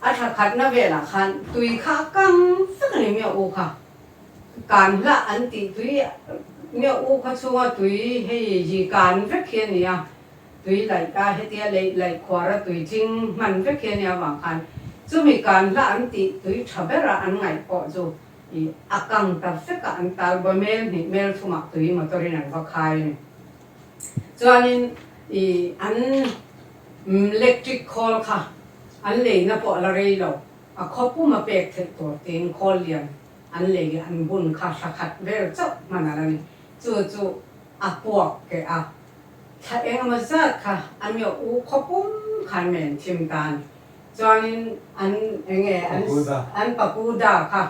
A tha khatna velah khan tui kha a kang vek a ni Myo U kha. Kan hlah an tih tui Myo U kha chunga tui hei ji kan vek hi a ni a, tui laih a hetia leih laih khuara tui tling hman vek hi a ni avang khan chumi kan hlah an tih tui tha bera an ngaih pawh chu i a kang ta vek a an tal bawmel hnih hmel thumah tui motor in an va khai a ni. Chuanin i an lectric khawl kha an leina pawh a la rei lo, a khaw pum a pek theih tur tein khawl lian an lei leh an bun kha hla khat vel chauh hman a la ni. Chu chu a puak keh a, thla eng emaw zat kha a miawh u khaw pum kha an men thim ta a ni. Chuanin an enge an pakuda kha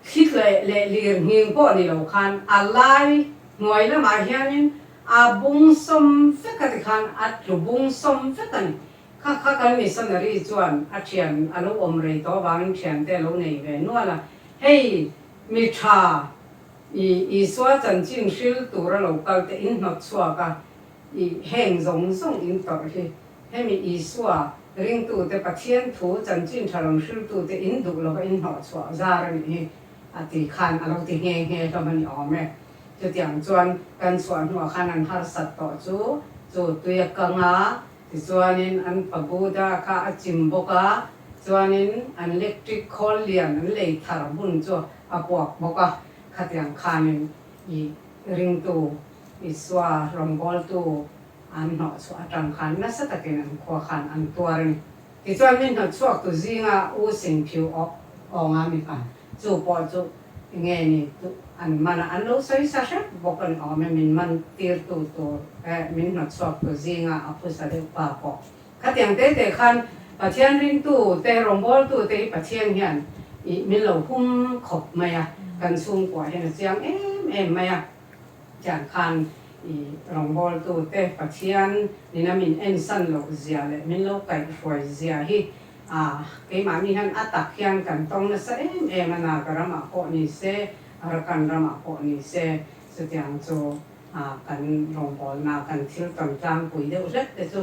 Thli tleh leh lir nghing pawh ni lo khan a lai hnuai lamah hianin a bung sawm vek a ti khan a tlu bung sawm vek a ni. Kha kha kan missionary chuan a thian a lo awm rei tawh avangin thian te a lo nei ve nual a, hei mi tha i Isua chanchin hril tur a lo kal te in hnawt chhuak a, I heng zawng zawng in tawrh hi, hemi Isua ringtute Pathian thu chanchin tha lam hriltute in duh lova in hnawh chhuah zar a nih hi, a ti khan a lo ti nghe nghe hlawm a ni awm e. Chutiang chuan kan chhuah hnuah khan an harsat tawh chu chu tuia kang a, tichuanin an pa Buddha kha a chim bawk a, chuanin an lectric khawl lian an lei thar hun chu a puak bawk a, khatiang khanin i ringtu Isua rawngawltu an hnawhchhuah atang khan nasa takin an khua khan an tuar a ni. Tichuan mi hnawtchhuaktu zinga u sin phiu awk awnga mi khan chu pawh chu enge ni duh an manah an lo sawi sa hrep bawk a ni awm e, min man tirtu tur eh min hnawtchhuaktu zinga a phusa deuh pa pawh khatiang te te khan Pathian ringtu te rawngawltu te hi Pathian hian ih min lo hum khawp mai a, kan chhungkuahin a chiang em em mai a. Tiang khan i rawngbawltu te Pathian in a min ensan loh zia leh min lo kaih hruai zia hi ah keimahni hian a tak hian kan tawng nasa em em a Naga ram ah pawh ni se Arakan ram ah pawh ni se chutiang chu ah kan rawngbawlna kan thil tawn tlangpui deuh hlet te chu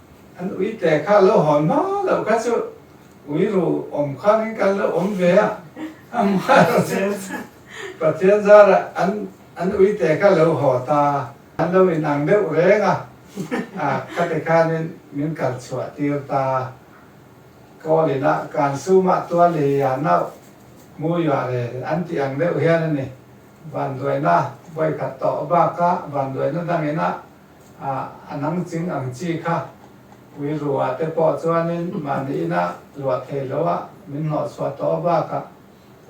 An ui te kha lo hawn hma loh kha chu ui ru awm khan in kan lo awm ve a, amaherawh chu Pathian zara an an ui te kha lo haw ta, an lo in ang deuh reng a, a kha ti khan in min kal chhuah tir ta, Kawl in a kan suma tual leh i ah nauh, mu i ah le an ti ang deuh hian a ni, vanduaina vawi khat tawh bak a vanduaina dang in a, A nang ching ang chi kha Uirua te pawh chuanin mahniina luah thei lo a min hnawhchhuah tawh bakah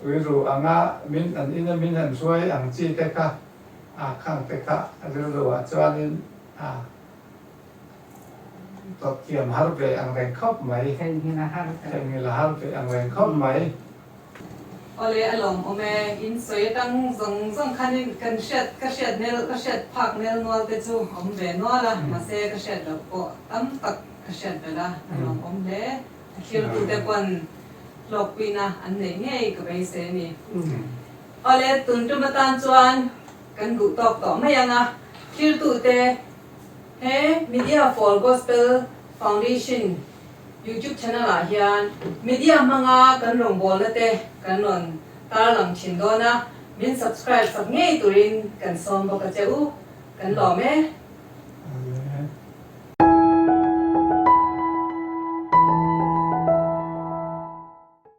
Uiru anga min an ina min han hruai ang chi te kha a khang te kha Rilruah chuanin a tawt thiam har ve ang reng khawp mai. Thenghil a har ve ang reng khawp mai. Awle a lawm awm e, in sawi atang hmung zawng zawng khanin kan hriat, ka hriat nel, ka hriat phak nel nual te chu awm ve nual a, mahse ka hriat loh pawh tam tak ka hriat belh a, a lawm awm hle. A thiltu te pawn hlawkpuina an neih ngei ka bei se ni. Awle tun tum atan chuan kan duhtawk tawh mai ang a, thiltute he Media for Gospel Foundation, YouTube channel ah hian media hmanga kan rawngbawlna te kan rawn tar lang thin dawn a, min subscribe sak ngei turin kan sawm bawk a che u, kan lawm e.